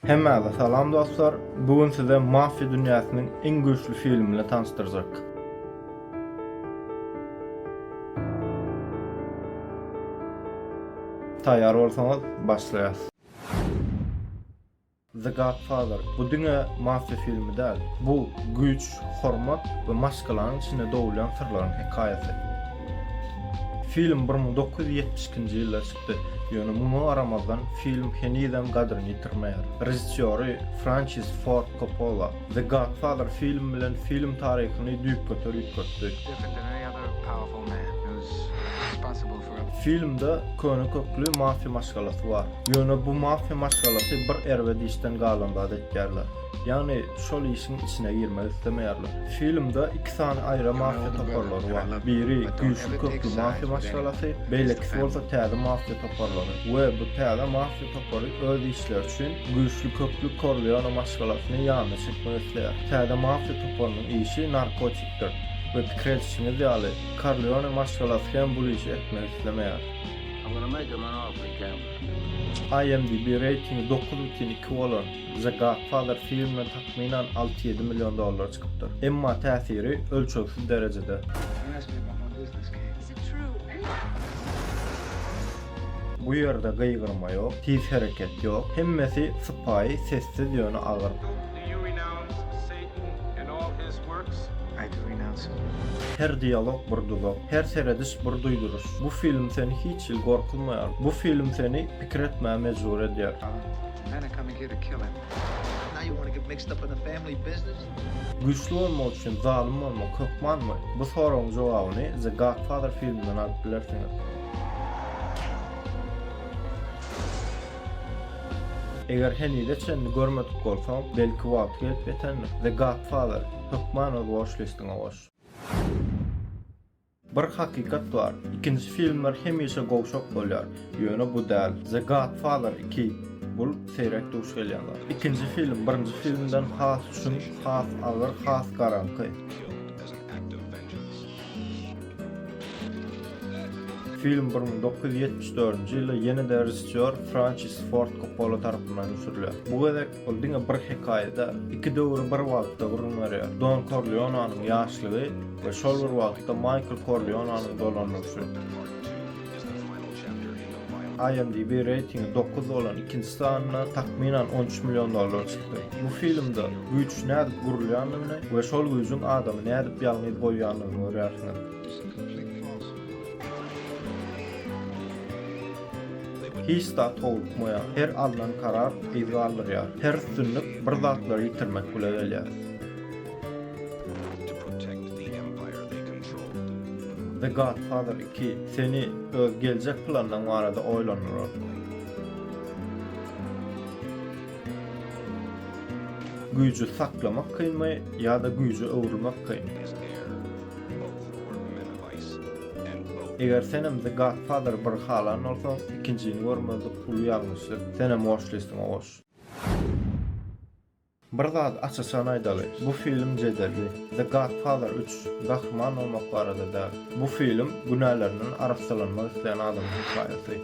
Hemmäňize salam dostlar! Bu gün size Mafia dünýäsiniň iň güýçli filmini tanyşdyrjak. Taýýar bolsaňyz, başlaýas. The Godfather bu diňe mafia filmi däl. Bu güýç, hormat we maşgalanyň içinde dogulýan syrlaryň hekaýasy. Film bir müň dokuz ýüz ýetmiş ikinji ýylda çykypdyr. çykdy. Ýöne muňa garamazdan, film henizem gadryny ýitirmeýär. Režissýory Françis Ford Koppola The Godfather filmi bilen film taryhyny düýpgöter üýtgetdi. Filmde köne kökli mafiýa maşgalasy bar. Ýöne bu mafiýa maşgalasy bir erbet işden galan zat etýärler. Ýagny şol işiň içine girmek islemeýärler. Filmde iki sany aýra mafiýa toparlary bar. Biri güýçli kökli mafiýa maşgalasy, beýlekisi bolsa täze mafiýa toparlary. We bu täze mafiýa topary öz işleri üçin güýçli kökli Korleone maşgalasyny ýanyna çekmek isleýär. Täze mafiýa toparynyň işi narkotikdir. We pikir edişiňiz ýaly, Korleone maşgalasy hem bul işi etmek islemeýär. IMDb reýtingi dokuz bütin iki bolan The Godfather filmi takmynan alty-ýedi million dollara çykypdyr. Emma täsiri ölçegsiz derejede. Bu ýerde gygyrma ýok, tiz hereket ýok. Hemmesi sypaýy, sessiz ýöne agyr. Her dialog bir duzak, her serediş bir duýduryş. Bu film seni hiç hili gorkuzmaýar. Bu film seni pikir etmä mejbur edýär. Güýçli bolmak üçin zalym bolmak hökmanmy? Bu soragyň jogabyny The Godfather filminden alyp bilersiňiz. Eger henize çenli görmedik bolsaň, belki wagty gelip ýetendir. The Godfather, hökman öz watchlist-iňe goş. Bir hakykat bar, ikinji filmler hemişe gowşak bolýar, ýöne bu däl. The Godfather iki, bul seýrek duş gelýän zat. Ikinji film birinji filmden has çuň, has agyr, has garaňky. Film bir müň dokuz ýüz ýetmiş dördünji ýylda ýene-de režissýor Françis Ford Koppola tarapyndan düşürilýär. Bu gezek Ol diňe bir hekaýa däl, iki döwri bir wagtda gürrüň berýär, Don Korleonanyň ýaşlygy we şol bir wagtda Maýkl Korleonanyň dolandyryşy. IMDb reýtingi dokuz bolan ikinji sanyna takmynan on üç million dollar çykdy. Bu filmde güýç nädip gurulýandygyny we şol güýjüň adamy nädip ýalňyz goýýandygyny görýärsiňiz. Hiç zat howlukmaýar, her alnan karar yz galdyrýar, her üstünlik bir zatlary ýitirmek bile gelýär. The Godfather iki seni öz geljek planyň barada oýlandyrar. Güýji saklamak kynmy ýa-da güýje öwrülmek kyn? Eger senem the godfather bir halan bolsaň ikinjini görmezlik uly ýalňyşdyr senem watch listiňe goş. Bir zat aç açan aýdaly bu film jedelli the godfather üç gahryman bolmak barada däl bu film günälerinden arassalanmak isleýän adamyň hekaýasy.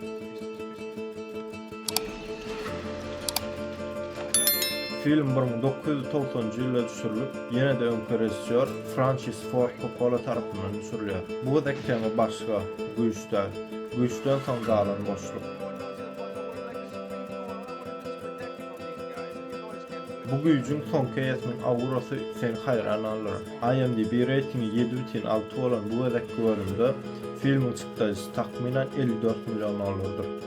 Film bir müň dokuz ýüz togsanynjy ýylda düşürilip, ýene-de öňki režissýor Françis Ford Koppola tarapyndan düşürilýär. Bu gezek tema başga, güýç däl. Güýçden soň galan boşluk. Bu güýjüň soňky eýesiniň aurasy seni haýran galdyrar. IMDb reýtingi ýedi bütin alty bolan bu gezekki bölümde filmiň çykdajysy, takmynan, elli dört million dollardyr.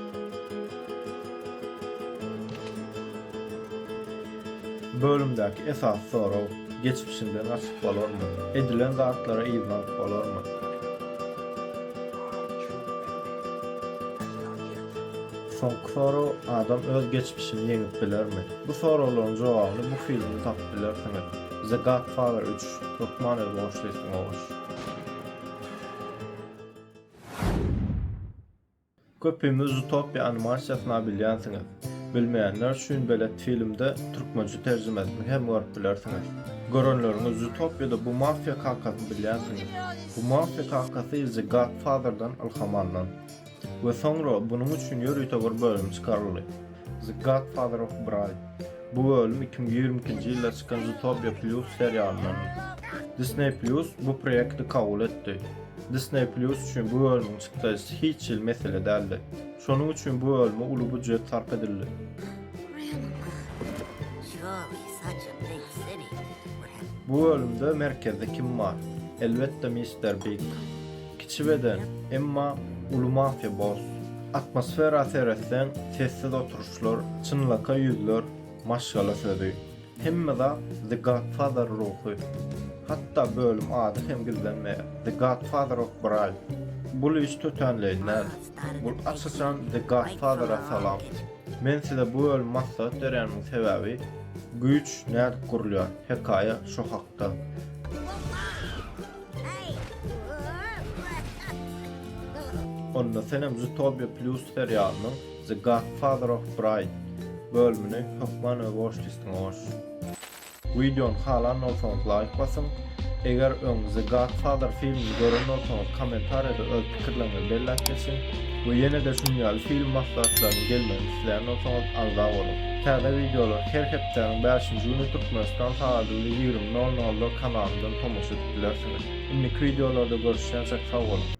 Bölümdäki esasy sorag, geçmişiňden gaçyp bolarmy? Edilen zatlara yzlanyp bolarmy? Soňky sorag, adam öz geçmişini ýeňip bilermi? Bu soraglaryň jogabyny bu filmde tapyp bilersiňiz. The Godfather üç, hökman öz watchlist-iňe goş. Köpimiz Zootopia animasiýasyna bilýänsiňiz. Bilmeýänler üçin belet filmde türkmençe terjimesini hem görüp bilersiňiz. Görenleriňiz Zootopiýada bu mafiýa kakasyny bilýänsiňiz. Bu mafiýa kakasy The Godfather-dan ylham alnan. We soňra bunuň üçin ýörite bir bölüm çykaryldy. The Godfather of Bride. Bu bölüm iki müň ýigrimi ikinji ýylda çykan Zootopia Plus serialyndandyr. Disney Plus bu proýekti kabul etdi. Disney Plus üçin bu bölümiň çykdajysy hiç hili mesele däldi. Şonuň üçin bu bölüme uly býujet sarp edildi. Bu bölümde merkezde kim bar? Elbetde Mister Big. Kiçi beden, emma uly mafia boss. Atmosfera seretseň sessiz oturyşlar, çynlakaý ýüzler, maşgala sözi. Hemme zat The Godfather ruhy. Hatda bölüm ady hem gizlenmeýär, The Godfather of Bright. Bul iş tötänleýin däl. Bul aç-açan The Godfather-a salam. Men size bu bölümi maslahat berýänimiň sebäbi güýç nädip gurulýar hekaýa şo hakda. Onda senem Zootopia Plus serialynyň The Godfather of Bride bölümini hökman öz watchlistňe goş. Wideony halan bolsaňyz laýk basyň. Eger öň The Godfather filmini gören bolsaňyz kommentariýada öz pikirleriňizi belläp geçiň we ýene-de şunuň ýaly film maslahatlarynyň gelmegini isleýän bolsaňyz agza boluň. Täze wideolar her hepdäniň bäşinji güni Türkmenistan sagady bilen ýigrimi nol nolda kanalymdan tomaşa edip bilersiňiz. Indiki wideolarda görüşýänçäk sag boluň.